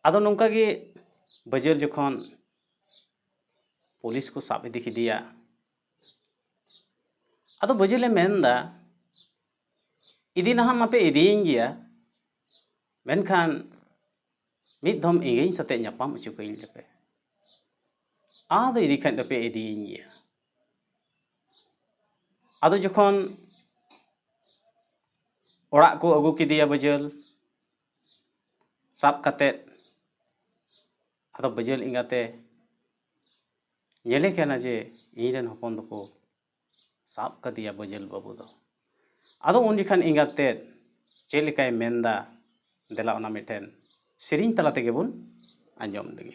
ᱟᱫᱚ ᱱᱚᱝᱠᱟ ᱜᱮ ᱵᱟᱹᱡᱟᱹᱞ ᱡᱚᱠᱷᱚᱱ ᱯᱩᱞᱤᱥ ᱠᱚ ᱥᱟᱵ ᱤᱫᱤ ᱠᱮᱫᱮᱭᱟ ᱟᱫᱚ ᱵᱟᱹᱡᱟᱹᱞᱮ ᱢᱮᱱᱫᱟ ᱤᱫᱤ ᱱᱟᱦᱟᱜ ᱢᱟᱯᱮ ᱤᱫᱤᱭᱤᱧ ᱜᱮᱭᱟ ᱢᱮᱱᱠᱷᱟᱱ ᱢᱤᱫ ᱫᱷᱚᱢ ᱤᱧ ᱥᱟᱛᱮᱜ ᱧᱟᱯᱟᱢ ᱦᱚᱪᱚ ᱠᱟᱹᱧ ᱞᱮᱯᱮ ᱟᱫᱚ ᱤᱫᱤ ᱠᱷᱟᱱ ᱫᱚᱯᱮ ᱤᱫᱤᱭᱤᱧ ᱜᱮᱭᱟ ᱟᱫᱚ ᱡᱚᱠᱷᱚᱱ ᱚᱲᱟᱜ ᱠᱚ ᱟᱹᱜᱩ ᱠᱮᱫᱮᱭᱟ ᱵᱟᱹᱡᱟᱹᱞ ᱥᱟᱵ ᱠᱟᱛᱮ ᱟᱫᱚ ᱵᱟᱹᱡᱟᱹᱞ ᱮᱸᱜᱟᱛᱮ ᱧᱮᱞᱮ ᱠᱟᱱᱟ ᱡᱮ ᱤᱧ ᱨᱮᱱ ᱦᱚᱯᱚᱱ ᱫᱚᱠᱚ ᱥᱟᱵ ᱠᱟᱫᱮᱭᱟ ᱵᱟᱹᱡᱟᱹᱞ ᱵᱟᱹᱵᱩ ᱫᱚ ᱟᱫᱚ ᱩᱱ ᱡᱚᱠᱷᱟᱱ ᱮᱸᱜᱟᱛ ᱛᱮᱫ ᱪᱮᱫ ᱞᱮᱠᱟᱭ ᱢᱮᱱᱫᱟ ᱫᱮᱞᱟ ᱚᱱᱟ ᱢᱤᱫᱴᱮᱱ ᱥᱮᱨᱮᱧ ᱛᱟᱞᱟ ᱛᱮᱜᱮ ᱵᱚᱱ ᱟᱸᱡᱚᱢ ᱞᱮᱜᱮ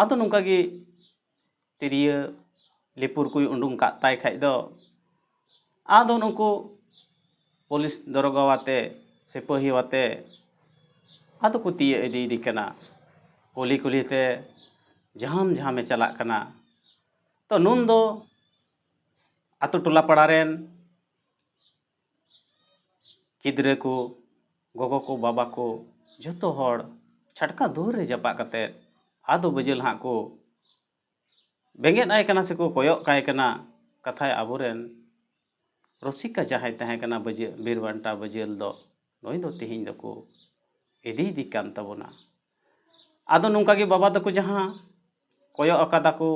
ᱟᱫᱚ ᱱᱚᱝᱠᱟ ᱜᱮ ᱛᱤᱨᱭᱟᱹ ᱞᱤᱯᱩᱨ ᱠᱚᱭ ᱩᱰᱩᱝ ᱠᱟᱜ ᱛᱟᱭ ᱠᱷᱟᱡ ᱫᱚ ᱟᱫᱚ ᱱᱩᱠᱩ ᱯᱩᱞᱤᱥ ᱫᱟᱨᱚᱜᱟ ᱟᱛᱮ ᱥᱤᱯᱟᱹᱦᱤ ᱟᱛᱮ ᱟᱫᱚ ᱠᱚ ᱛᱤᱭᱟᱹᱜ ᱤᱫᱤᱭᱮᱫᱮ ᱠᱟᱱᱟ ᱠᱩᱞᱦᱤ ᱠᱩᱞᱦᱤ ᱛᱮ ᱡᱷᱟᱢ ᱡᱷᱟᱢᱮ ᱪᱟᱞᱟᱜ ᱠᱟᱱᱟ ᱛᱚ ᱱᱩᱱ ᱫᱚ ᱟᱛᱳ ᱴᱚᱞᱟ ᱯᱟᱲᱟ ᱨᱮᱱ ᱜᱤᱫᱽᱨᱟᱹ ᱠᱚ ᱜᱚᱜᱚ ᱠᱚ ᱵᱟᱵᱟ ᱠᱚ ᱡᱷᱚᱛᱚ ᱦᱚᱲ ᱪᱷᱟᱴᱠᱟ ᱫᱩᱣᱟᱹᱨ ᱨᱮ ᱡᱟᱯᱟᱜ ᱠᱟᱛᱮ ᱟᱫᱚ ᱵᱤᱡᱚᱭ ᱦᱟᱸᱜ ᱠᱚ ᱵᱮᱸᱜᱮᱫ ᱟᱭ ᱠᱟᱱᱟ ᱥᱮᱠᱚ ᱠᱚᱭᱚᱜ ᱠᱟᱭ ᱠᱟᱱᱟ ᱠᱟᱛᱷᱟᱡ ᱟᱵᱚ ᱨᱮᱱ ᱨᱩᱥᱤᱠᱟ ᱡᱟᱦᱟᱸᱭ ᱛᱟᱦᱮᱸ ᱠᱟᱱᱟ ᱵᱤᱨ ᱵᱟᱱᱴᱟ ᱵᱤᱡᱚᱭ ᱫᱚ ᱱᱩᱭ ᱫᱚ ᱛᱮᱦᱮᱧ ᱫᱚᱠᱚ ᱤᱫᱤᱭᱮᱫᱮ ᱠᱟᱱ ᱛᱟᱵᱚᱱᱟ ᱟᱫᱚ ᱱᱚᱝᱠᱟ ᱜᱮ ᱵᱟᱵᱟ ᱛᱟᱠᱚ ᱡᱟᱦᱟᱸ ᱠᱚᱭᱚᱜ ᱟᱠᱟᱫᱟ ᱠᱚ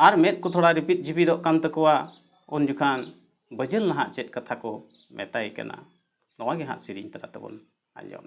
ᱟᱨ ᱢᱮᱫ ᱠᱚ ᱛᱷᱚᱲᱟ ᱨᱤᱯᱤᱫ ᱡᱤᱯᱤᱫᱚᱜ ᱠᱟᱱ ᱛᱟᱠᱚᱣᱟ ᱩᱱ ᱡᱚᱠᱷᱟᱱ ᱵᱟᱹᱡᱟᱹᱞ ᱱᱟᱦᱟᱜ ᱪᱮᱫ ᱠᱟᱛᱷᱟ ᱠᱚ ᱢᱮᱛᱟᱭ ᱠᱟᱱᱟ ᱱᱚᱣᱟ ᱜᱮ ᱦᱟᱸᱜ ᱥᱮᱨᱮᱧ ᱛᱟᱞᱟ ᱛᱮᱵᱚᱱ ᱟᱸᱡᱚᱢ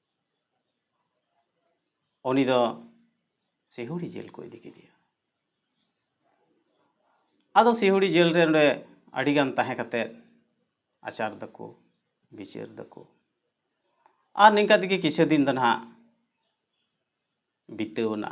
ᱩᱱᱤ ᱫᱚ ᱥᱤᱦᱩᱲᱤ ᱡᱮᱞ ᱠᱚ ᱤᱫᱤ ᱠᱮᱫᱮᱭᱟ ᱟᱫᱚ ᱥᱤᱦᱩᱲᱤ ᱡᱮᱞ ᱨᱮ ᱚᱸᱰᱮ ᱟᱹᱰᱤᱜᱟᱱ ᱛᱟᱦᱮᱸ ᱠᱟᱛᱮᱫ ᱟᱪᱟᱨ ᱫᱟᱠᱚ ᱵᱤᱪᱟᱹᱨ ᱫᱟᱠᱚ ᱟᱨ ᱱᱤᱝᱠᱟ ᱛᱮᱜᱮ ᱠᱤᱪᱷᱩ ᱫᱤᱱ ᱫᱚ ᱱᱟᱦᱟᱜ ᱵᱤᱛᱟᱹᱣᱱᱟ